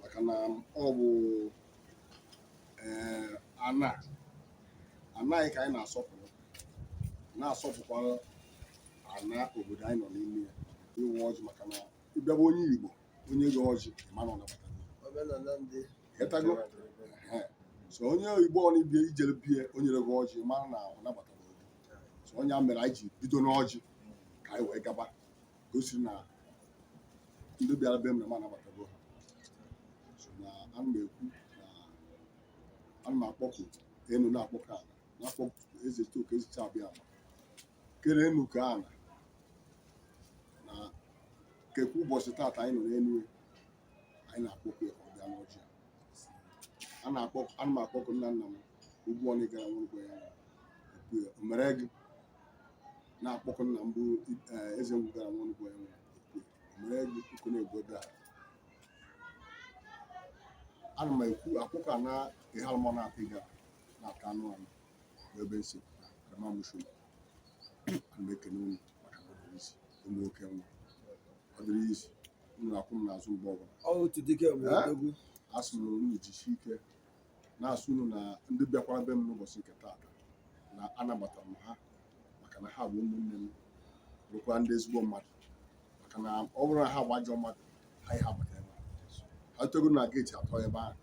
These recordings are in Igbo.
maka na ọ bụ ee ana anyị ka anyị na-asọpụrụ na-asọpụkwara ana obodo anyị nọ n'ime ya ịwa ọjị maka na ị bịa be onye Igbo o nye gị ọjị mara na ọ nabatago Ehe. so onye Igbo ọbụna i jere be ya o nye gị ọjị mara na ọ nabatara obodo so ọ ya mere anyị ji bido n'ọjị ka anyị wee gaba gosi na ndị bịara be m na m anabatago ha so na ana m ekwu na ana m akpọku enu na-akpọku ana na-akpọku Ezetoke ezicha Abịama kere enu kee ana na kekwa ụbọchị taata anyị nọ n'enu anyị na-akpọku ya ka ọ bịa n'ọjị a. ana m akpọku nna nna m Ugwu ọnụ gara nwụrụkwa ya ekwu ya o mere gị na-akpọku nna m bụ eh, eze ngwugara nwanugwu ya nwere mere ego uko na-egbu ebe a ana m ekwu akpọku ana Ihalụmọna atịga na-ata anụ anụ ebe m si pụta karama mụshu ana m ekene unu maka na ọ dịrọ easy ụmụ nwoke nwa ọ dịrọ easy unu na-akwụ m n'azụ mgbe ọbụla ọ otu dike mgbe Eh? odogwu asị m na unu jisie ike na-asụ unu na ndị bịakwara be m n'ụbọchị nke taata na anabata m ha maka na ha bụ ụmụnne m bụkwa ndị ezigbo mmadụ maka na ọ bụrụ na ha bụ ajọ mmadụ ha aha abata ebe a. ha atọgo na gate atọ ebe ahụ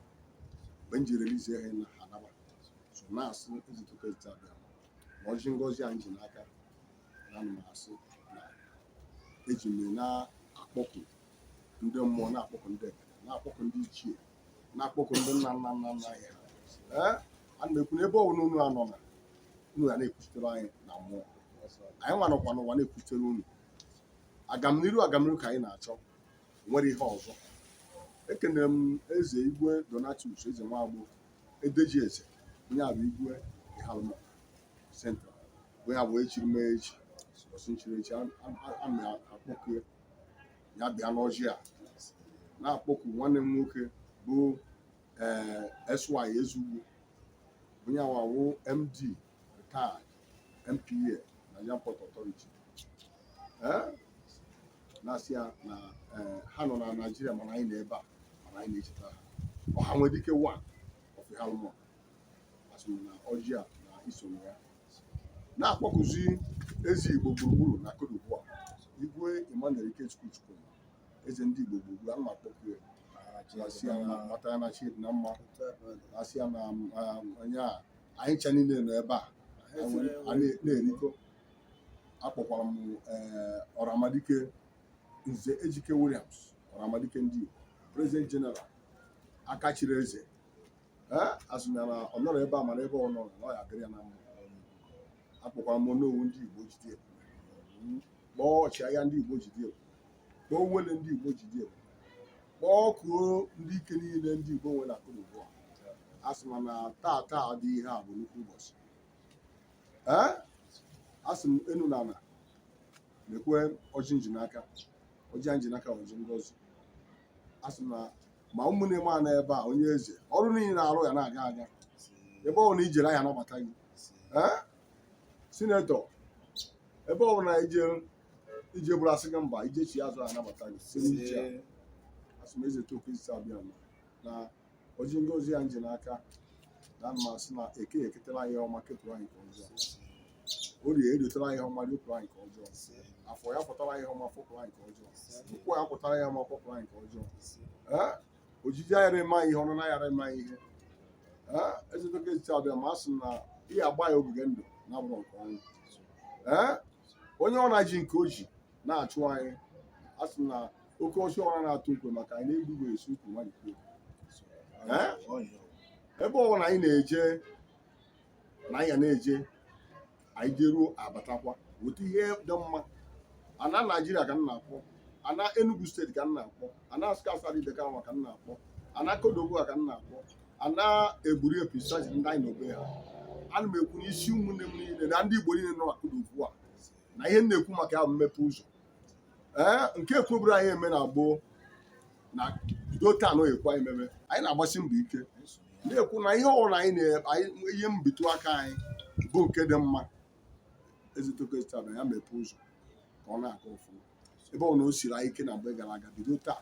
mgbe m ji release ha na ha anaba so na-asụ Ezitoke ezite Abịama ọjị ngọzi anyị ji n'aka na ana m asụ na eji m na-akpọku ndị mmụọ na-akpọku ndị ekele na-akpọku ndị ichie na-akpọku ndị nna nna nna nna anyị ee ana m ekwu na ebe ọbụla unu nọ na unu ga na-ekwuchitere anyị na mmụọ anyị nwa nọkwa n'ụwa na-ekwuchitere unu agamniru agamniru ka anyị na-achọ nwere ihe ọzọ ekenere m eze igwe Donatus Eze Nwagbo edeji eze onye a bụ igwe Ihalụmọna central onye a bụ echiri mee echi ọsụ nchiri echi ana m akpọku ya ya bịa n'ọjị a na-akpọku nwanne m nwoke bụ ee eh, SY Ezugwu onye a wụ MD retired NPA Nigerian Port Authority eh? na-asị ya na eh, ha nọ na Naịjirịa mana anyị nọ ebe a mana anyị na-echeta ha ọha nwere ike one of Ihalụm asị m na ọjị a na isonye ya na-akpọkuzi eze Igbo gburugburu na Cote d'Ivoire Igwe Emmanuel Ikechukwu Chukwu eze ndị Igbo gburugburu ana m akpọku ya asị ya na mata ya na chi dị na mma asị ya na um, onye a anyị ncha niile nọ ebe a a na- na-erikọ akpọkwara m eh, ọramadike nze ejike williams ọramadike ndị Igbo president general aka chiri eze asị na ọ nọrọ ebe a mara ebe ọ nọrọ na ọ ya-adịrị ya na mma akpọkwara m Onowu ndị Igbo ọjị dị ebe a kpọọ ọchịagha ndị Igbo ọjị dị ebe a kpọọ Owelle ndị Igbo ọjị dị ebe a kpọkuo ndị ike niile ndị Igbo nwere na Cote d'Ivoire asị m na taa taa dị ihe a bụ nnukwu ụbọchị ee asị m enu na ana mekwa ọjị m ji n'aka ọjị m ji n'aka ọjị ngozi asị m na ma ụmụnne m nọ ebe a onye eze ọrụ niile na-arụ ya na-aga aga ebe ọbụla i jere ha anabata gị sinetọ ebe ọbụla i jeburu a sị gị mba i jechi azụ anabata gị si n'ije asị m Ezechitoke isi Abịama na ọjị ngozi a m ji n'aka ana m asị na eke eketara anyị ọma kepụrụ anyị nke ọjọọ orie eritere anyị ọma ripụrụ anyị nke ọjọọ afọ ya-afọtara anyị ọma fọpụrụ anyị nke ọjọọ nkwọ ya-akwọtara anyị ọma kwọpụrụ anyị nke ọjọọ Ee, ojije ayarọ eme anyị ihe ọnụna ayarọ eme anyị ihe Ee, Ezechitoke isi Abịama a sị na ị ya-agba anyị ogige ndụ na abụrọ nke ọnwụ Ee, onye ọbụla ji nke o ji na-achụ anyị a sị na oke ọchị ọra na-atụ ukwe maka anyị na-egbu igwe esi ukwu mmadụ kwuo. Ee, ebe ọ bụla anyị na-eje na anyị na-eje anyị jeruo abatakwa weta ihe dị mma ana naijiria ka m na-akpọ ana enugu steeti ka m na-akpọ ana Nsụka Asadu Ideke nwa ka m na-akpọ ana Cote d'Ivoire ka m na-akpọ ana Ebrié episaji ndị anyị nọ be ha ana m ekwu n'isi ụmụnne m niile na ndị igbo niile nọ na Cote d'Ivoire na ihe m na-ekwu maka ya bụ mmepe ụzọ ee nke ekweburọ anyị eme na gboo na bido taa na ọ ya-ekwe anyị meme anyị na-agbasi mbọ ike na-ekwu na ihe ọbụla anyị ya-ebitụ aka anyị bụ nke dị mma Ezechitoke site taa na ya mepee ụzọ ka ọ na-aga ọfụma ebe ọbụla o siri anyị ike na mgbe gara aga bido taa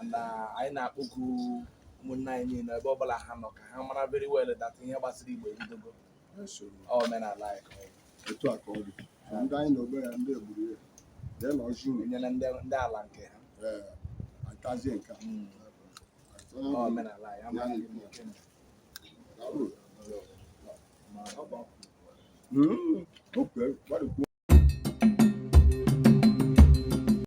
and uh, anyị na-akpọku ụmụnne anyị niile ebe ọbụla ha nọ ka ha mara very well that ihe gbasara Igbo ebidogo omenala anyị ka ọ bụ. etu a ka ọ dị So ndị anyị nọ be ha ndị Ebrié dee na ọjị unu enyela ndị ndị ala nke ha ee atazie nke a. Mm. Ọ omenala anyị amaghị ihe ndị nke mere. Daalụ. Mm, okay, gbarịkwuo.